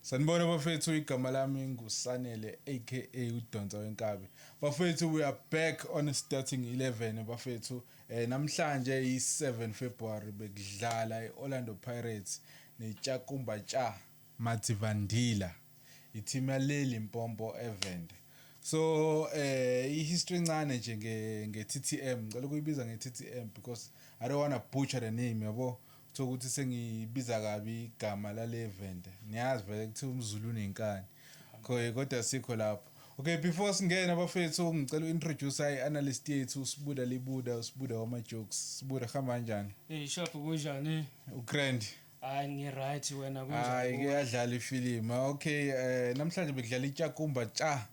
Sanibona bafethu igama lami nguSanele aka udonsa wenkabi. Bafethu we are back on starting 11 bafethu. Eh namhlanje yi 7 February bekudlala iOrlando Pirates neTshakumba Tsha Mativandila. Iteam yaleli Mpompo eVende. So eh i history ncane nje nge nge TTM. Ngicela ukuyibiza nge TTM because I don't want to butcher the name yabo. Kuthiwa ukuthi sengibiza kabi igama lale event. Niyazi vele kuthiwa umzulu unenkani. Khoye kodwa sikho lapho. Okay before singena bafethu ngicela uintroduce i analyst yethu uSibuda Libuda uSibuda wama jokes. Sibuda hamba kanjani? Hey shaphu kunjani? Ugrand. Hayi ngi right wena kunjani? Hayi ke yadlala ifilimu. Okay eh namhlanje bekudlala iTshakumba Tsha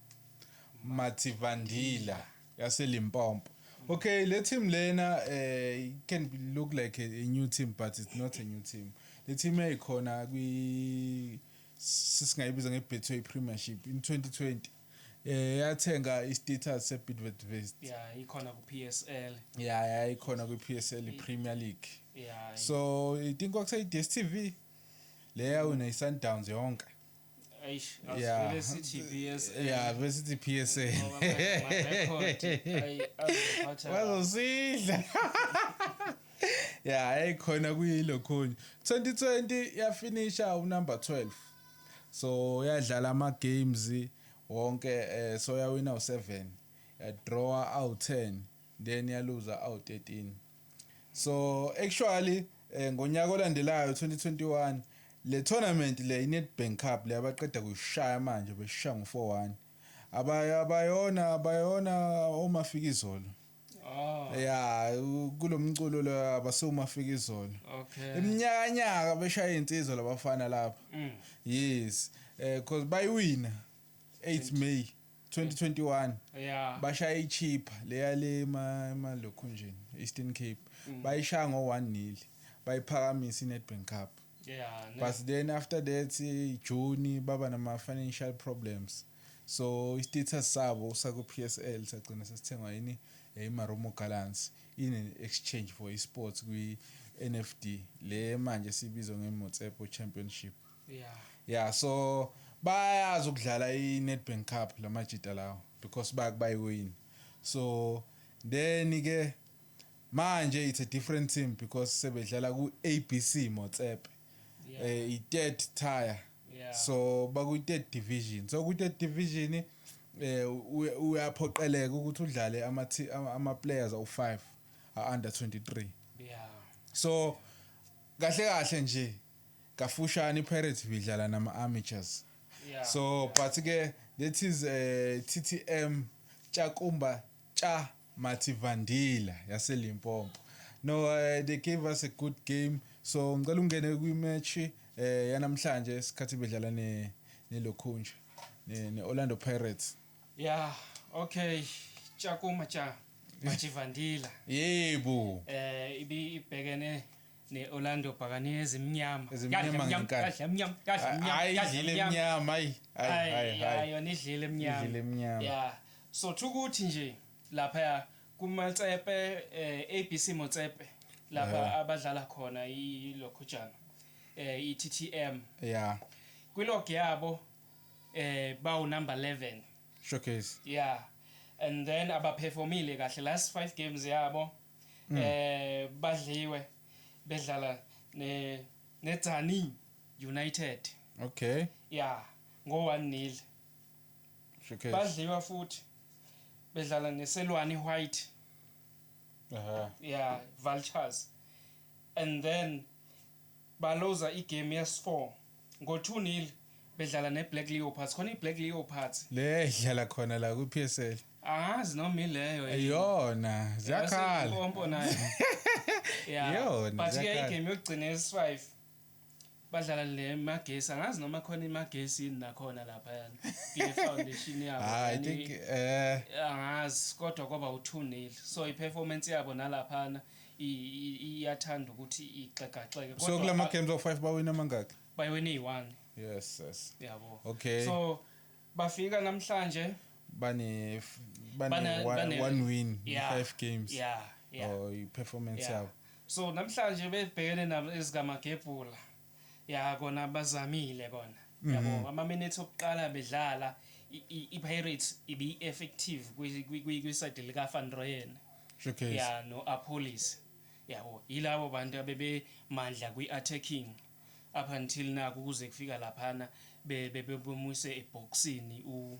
Mathivandila. yaseLimpopo okay le team lena eh can look like a, a new team but it's not a new team le team yayikhona kwi sisingayibiza ngebetway premiership in 2020 eh yathenga istatus sebidvet vest ya ikhona ku-psl ya yayikhona kwi-psl premier league ya so i think kwakuseyi-dstv le yawina i-sundowns yonke Eish, Yeah. asivele sithi PSA. ya besithi p s a Ngoba phela ama-record, ayi, azophatha la. bazosidla ya eyikhona kuyilokhunye 2020 yafinisha unumber 12 so yadlala ama-games wonke eh, so yawina u-7 yadrawa awu-10 then yaluza awu-13 So actually eh, ngonyaka olandelayo 2021 le tournament le iNedbank Cup le abaqeda kuyishaya manje beshaya ngo-4-1 abaya bayona bayona omafika izolo Oh, ya u- kulo mculo lo abasewumafika izolo okay. iminyakanyaka beshaya insizwa labafana lapha Mm. yes eh cause bayiwina 8 May 2021 yeah. bashaya ichipha leyale emalokhunjini eastern cape mm. bayishaya ngo-one nil bayiphakamisa i-nedbank cup yeah, but then after that june baba nama-financial problems so i-status sabo sakwi-p s l sagcina sesithengwa yini imaromo gallants ine-exchange for i-sports kwi-n f d le manje sibizwa nge-motsepo championship yeah yeah so bayazi ukudlala i-Nedbank Cup lamajita lawo because bayakubayiwini so then ke manje it's a different team because sebedlala ku-ABC Motsepe yeah. eh, i-third tire yeah. so bakuyi-third division so kwi-third division eh uyaphoqeleka ukuthi udlale ama ama players awu5 under 23 yeah so kahle kahle nje Kafushane iPirates ibidlala nama Amateurs. Yeah. So but ke that is uh, eh, TTM Tshakumba Tsha Mativandila yase Limpopo. No uh, they gave us a good game. So ngicela ungene kwi match eh uh, yanamhlanje isikhathi bedlala ne ne Lokhunja ne, ne Orlando Pirates. Yeah, okay. Tshakumba Tsha Mativandila. Yebo. Eh uh, ibi ibhekene ne-Orlando Bhakane ezimnyama Ezimnyama ngenkathi. kadla emnyama kadla emnyama Hayi kadla idlile emnyama. emnyama hayi hayi hayi Hayi, hayi hayi. yona idlile emnyama. Idlile emnyama. Yeah. So thukuthi nje lapha ya kuMatsepe eh, ABC Motsepe lapha Yeah. abadlala khona ilokhujana eh iTTM. Yeah. Kwilog yabo eh bawu number 11. Showcase. Yeah. And then abaperformile kahle last 5 games yabo mm. eh badliwe bedlala ne neTsani United okay yeah ngo 1 nil shukela badliwa futhi bedlala neselwani white aha yeah vultures and then Baluza igemu yesfour ngo two nil bedlala ne Black Leopards khona i Black Leopards. Le edlala khona la kwi PSL. Angazi noma ileyo yini. Iyona ziyakhala. Yase Mpompo nayo. Yeah. Iyona But ke ziyakhala. igame yokugcina yesi five badlala le Magesi angazi noma khona iMagesi yini nakhona lapha yani. Kule foundation yabo. Ah, I yani- think eh angazi kodwa kwaba u-2 nil so i-performance yabo nalaphana iyathanda ukuthi igxegaxege so kula ma-games awu-five bawina amangaki bayewine eyi-one yes yes yabo okay so bafika namhlanje bane bane one win yeah. five games yeah yeah oh i-performance yabo yeah. so namhlanje bebhekene nabo ezikamagebhula Ya kona bazamile kona yabo ama minutes okuqala bedlala i Pirates ibi effective kwi side lika Van Rooyen ya no Appolis yabo yilabo bantu abebe mandla kwi attacking up until naku kuze kufika laphana bebemuse ebhoksini u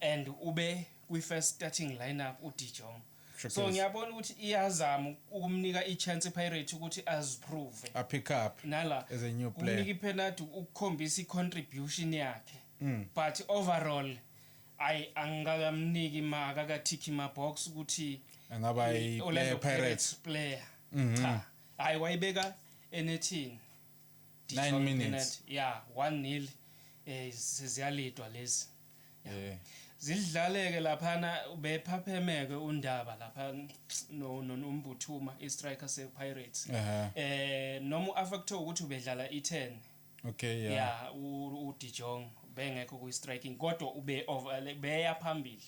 and ube kwi first starting lineup u De Jong True so case. ngiyabona ukuthi iyazama ukumnika i chance iPirates ukuthi aziprove a pick up nala as a new kumnika player ipenalty ukukhombisa icontribution yakhe Mm. but overall ayi angikamniki maka kathikhi mabox ukuthi angaba i- i-Orlando player Pirates Pirates player Mhm. cha hayi wayibeka enethini Nine minutes. ya 1 nil eh seziyalidwa lezi Eh. zilidlaleke laphana bephaphemeke undaba lapha no no- nombuthuma istriker sepirates Ehhe. eh noma uafacto ukuthi ubedlala i10 Okay, yeah. ya u- udijong bengekho kwi-striking kodwa ube over- beya phambili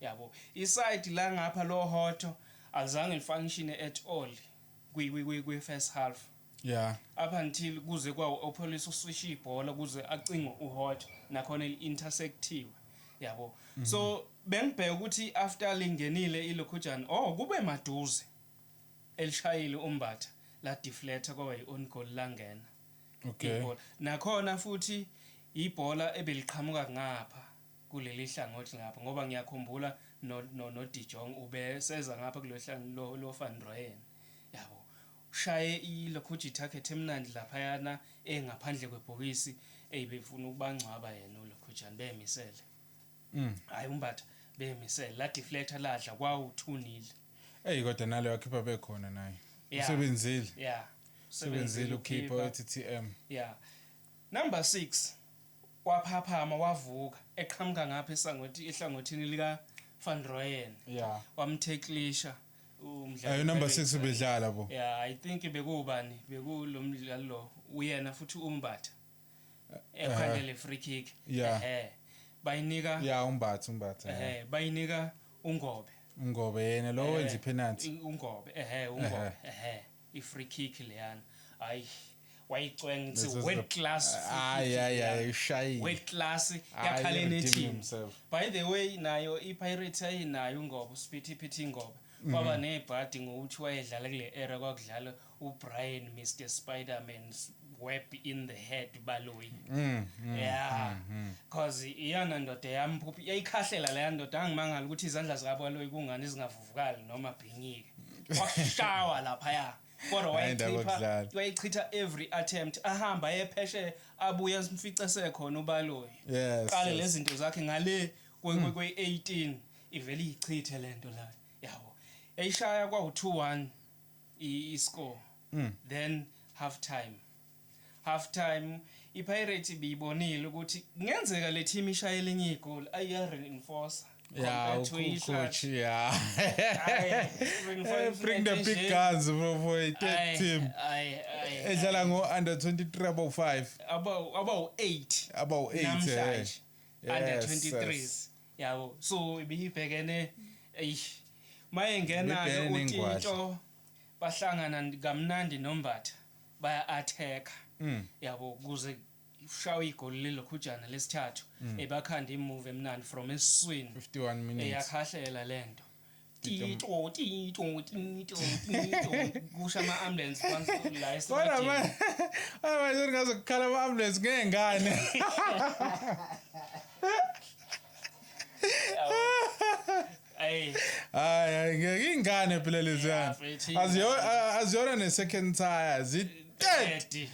yabo isayidi la ngapha lohoto alizange lifunctione at all kwi- kwi- kwi- kwi-first half Yeah. Up until kuze kwawo opholisa uswisha ibhola kuze acingwe uHot nakhona eli-intersectiwe. Yabo. Mm -hmm. So bengibheka ukuthi after lingenile ilokhujana oh kube maduze elishayile umbatha la deflector kwaba yi-on goal langena. Okay. Ibhola. Nakhona futhi ibhola ebeliqhamuka ngapha kuleli hlangothi ngapha ngoba ngiyakhumbula no no, no Dijong ubeseza ngapha kulehla lo lo Van Rooyen. Yabo. Ushaye i locuji target emnandi laphayana e ngaphandle kwe bhokisi ey befuna ukubangcwaba yena u locujana bemisele ay u Mbatha bemisele la deflector ladla kwawu two nil. Ey kodwa nalo wakhipha bekhona naye. Yeah. Usebenzile. Yeah. Usebenzile ukhipha wethi TM. Yeah. Number six waphaphama wavuka eqhamuka ngapha esangwethi ehlangothini lika Van Rooyen. Yeah. Wamtheklisha. umdlalo ayo number 6 bedlala bo yeah i think bekuwubani bekulomdlalo lo uyena futhi umbatha ekhandele eh, eh. free kick yeah eh bayinika yeah umbatha umbatha eh bayinika ungobe ungobe yena lo wenza penalty ungobe eh ungobe eh I free kick leyana. Hayi wayicwenga it's a world class hayi hayi hayi ushayi world class yakhala enethini by the way nayo i pirates ayinayo ngoba usphithi phithi ngoba mhm. waba nebhadi ngokuthi wayedlala kule era kwakudlala ubrian mr spiderman web in the head baloyi mm, mm, yeah because mm, iyona ndoda yamphuphi yayikhahlela leya ndoda angimangala ukuthi izandla zikabaloyi kungani zingavuvi vukali noma bhinyike washawa laphaya kodwa wayichipha wayichitha every attempt ahamba epheshe abuye simfice sekhona ubaloyi yes, qale yes. lezinto zakhe ngale kwe mm. kwe 18 ivele iyichithe lento la yabo eyishaya kwa 2-1 i score mm. then half time Half time iPirates ibiyibonile ukuthi kungenzeka le team ishaye elinye igoli ayiya reinforcer. Yeah, coach, yeah. Bring the big guns for, for a third team. Edlala ngo under 23 about 5. About about 8. About 8. Namhlanje. Under 23s. Yabo. So ibihibhekene eish. Mayengena ukuthi into bahlangana kamnandi nombatha. baya attack mm. yabo kuze ushawa igoli lelokhujana lesithathu mm. ebakhanda imove emnandi from esiswini 51 minutes eyakhahlela lento tito tito tito tito kusha ama ambulance phansi la kodwa manje manje ngaze kukhala ama ambulance ngengane Hey. Hayi hayi ngeke ingane phela leziyana. Aziyona aziyona ne second tire zi 30.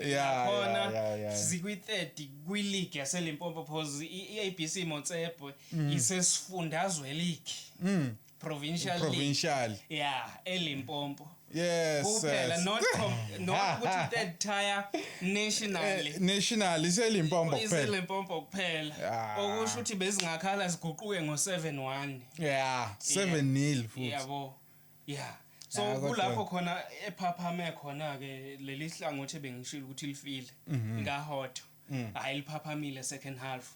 Yeah, khona yeah, yeah, zikwi 30 kwi league yase Limpopo phozi iABC Motsepe mm. isesifundazwe league. Mm. Provincial, Provincial. League. Yeah, eLimpopo. Yes. Kuphela yes. not com, not ah, ukuthi ah. third tier nationally. Eh, national iselimpompo kuphela. Iselimpompo kuphela. Ah. Okusho ukuthi bezingakhala ziguquke ngo 7-1. Yeah, 7-0 futhi. Yabo. Yeah. So kulapho khona ephaphame khona ke leli hlangothi bengishilo ukuthi lifile. Mhm. Ngahotho. Mm. Hayi liphaphamile second half.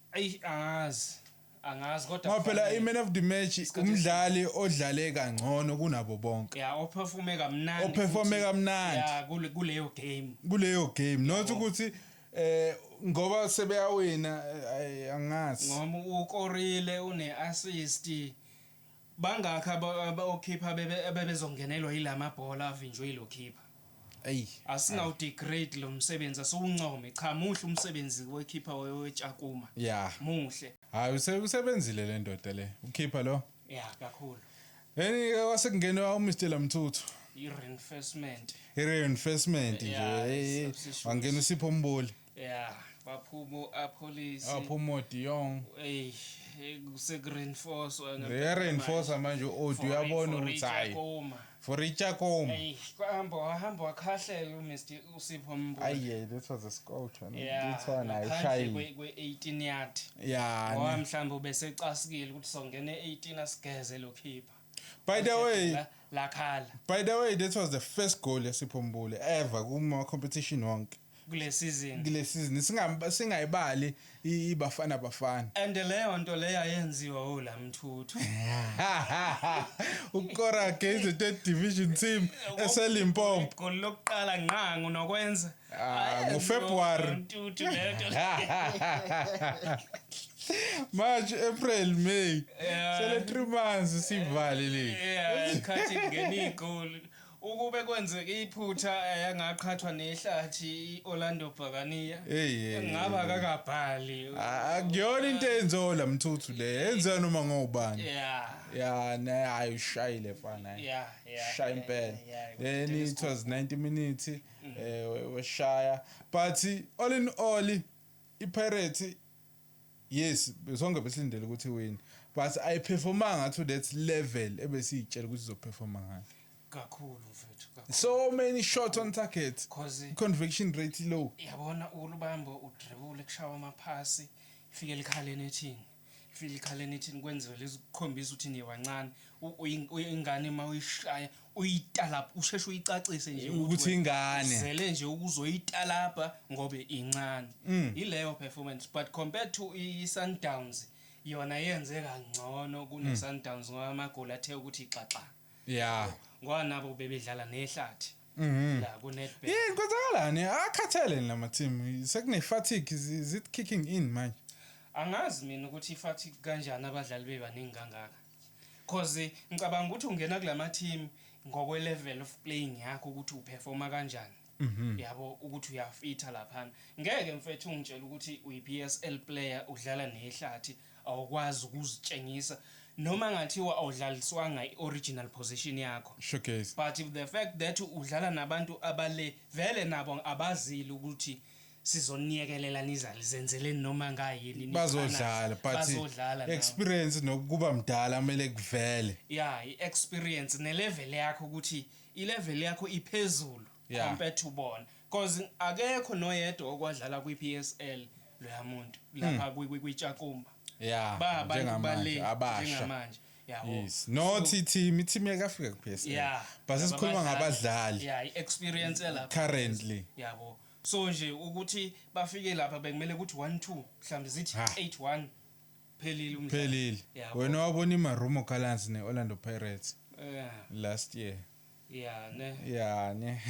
Eyi angazi. Angazi kodwa Ngoba phela kufanele- i-man of the match Isikhathi umdlali odlale kangcono kunabo bonke ya operforme kamnandi Operforme futhi, kamnandi. ya kule- kuleyo game kuleyo game not ukuthi eh ngoba sebeyawina eh, ay, angazi ngoba ukorile une-assist Bangaki aba okhipha bebe abebezongenelwa yila mabhola avinjwe yilo khipha. Eyi. Asingawu degrade lo msebenzi asiwuncome cha muhle umsebenzi wekhipha we Tshakuma. Yeah. Muhle. Hayi use usebenzile le ndoda le ukhipha lo. Yeah kakhulu. Eni ke kwase kungenwa u Mr Lamthuthu. I reinforcement. I reinforcement nje. Wangena uSipho Mboli. ya baphumo apholisi aphumo diyong eyi kusekureinforcwa reinforce manje odi uyabona ukuthi hayi for ichakoma kwahamba wahamba wakhahlela umr usipho mbo aye this was a scout ithona ayishayi kwe-18 yard ya ngoba mhlawumbe ubesecasikile ukuthi songena e-18 asigeze lo khipha by the way lakhala by the way this was the first goal yasipho mbule ever kuma competition wonke kule season kule season singa singayibali ibafana bafana and leyo nto leyo ayenziwa ula mthuthu ukora gezi te division team eselimpopo gol lokuqala ngqangu nokwenza ah, ngo February mthuthu leyo nto March, April, May. Yeah. Sele 3 months sivale le. Yeah, khathi ngene igoli. Ukube kwenzeke iphutha yangaqhathwa nehlathi i-Orlando Bhakaniya ngaba kakabhali. Akuyona into eyenziwa la mthuthu le yenziwa noma ngobani. Ya naye hayi ushayile fana. Shaya impela. Then it was 90 minutes mm. eh weshaya but all in all iPirates Yes, sonke besilindele ukuthi win. But I performa ngathi to that level ebesiyitshela ukuthi izoperforma ngayo. Kakhulu mfethu. So many shots on target. Cause conviction rate low. Yabona ulubambo udribule kushawa amaphasi. Fike likhaleni ethini. Fike likhaleni ethini kwenziwe lezi kukhombisa ukuthi niye wancane. Uyingane uma uyishaya uyitalabha usheshe uyicacise nje ukuthi ingane zele nje ukuzoyitalabha ngobe incane mm. ileyo performance but compared to i-Sundowns yona yenze kangcono kune-Sundowns mm. ngoba amagoli athe ukuthi xaxa yeah ngoba nabo bebedlala nehlathi mm-hmm. la kunetbet yini kwenzakalani akhathele lama team sekune-fatigue is it kicking in manje angazi mina ukuthi i-fatigue kanjani abadlali bebaningi kangaka Coz ngicabanga ukuthi ungena kulama team ngokwe level of playing yakho ukuthi u performa kanjani yabo ukuthi uyafitha laphana. Ngeke mfethu ungitshele ukuthi uyi PSL player udlala nehlathi awukwazi ukuzitshengisa noma ngathiwa awudlaliswanga i original position yakho. Showcase. But the fact that udlala nabantu abale vele nabo abazile ukuthi sizoniyekelela nizali zenzeleni noma ngayini bazodlala but bazodlala experience nokuba mdala kumele kuvele yeah i experience ne level yakho ukuthi i level yakho iphezulu yeah. compared to bona because akekho noyedwa okwadlala kwi PSL loya muntu lapha hmm. kwi kwi Chakumba yeah ba abantu bale njengamanje yabo yes no so, team team yakafika ku PSL yeah base sikhuluma ngabadlali yeah i experience lapha currently yabo yeah, so nje ukuthi bafike lapha bekumele ukuthi 1 2 mhlawumbe zithi Ha. 8 1 phelile umdlalo phelile Yabo. wena wabona imarumo gallants ne-orlando pirates Eh, last year yeah ne ya ne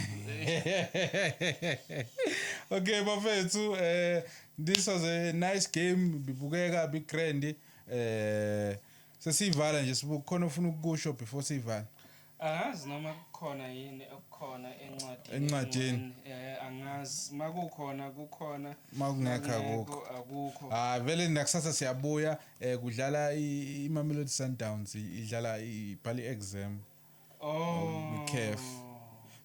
okay bafethu uh, this was a nice game bibukeka bigrand uh, sesiyivala nje sibukhona ofuna ukukusho before siyivala Angazi noma kukhona yini okukhona encwadini. Encwadini. Eh angazi makukhona kukhona. Makungekho akukho. Akukho. Ah vele nakusasa siyabuya eh kudlala iMamelodi Sundowns idlala ibhali exam. Oh. Kef.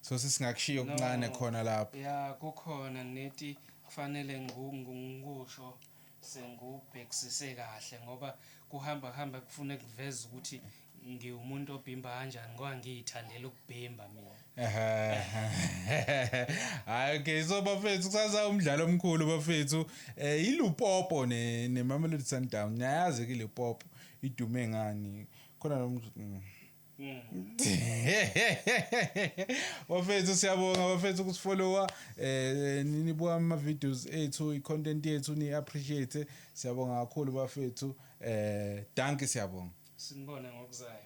So sesingakushiya okuncane khona lapho. Yeah kukhona neti kufanele ngikusho. Sengiwubhekisise kahle ngoba kuhamba hamba kufune kuveze ukuthi ngiwumuntu obhimba kanjani ngoba ngiyithandela ukubhimba mina. Hayi okay so bafethu kusasa umdlalo omkhulu bafethu eh iLupopo ne neMamelodi Sundowns. Niyayazi ke iLupopo idume ngani. Khona lo mm. bafethu siyabonga bafethu ukusifollowa eh nibuka ama videos ethu i content yethu ni appreciate siyabonga kakhulu bafethu eh danke siyabonga sinibone ngokuzayo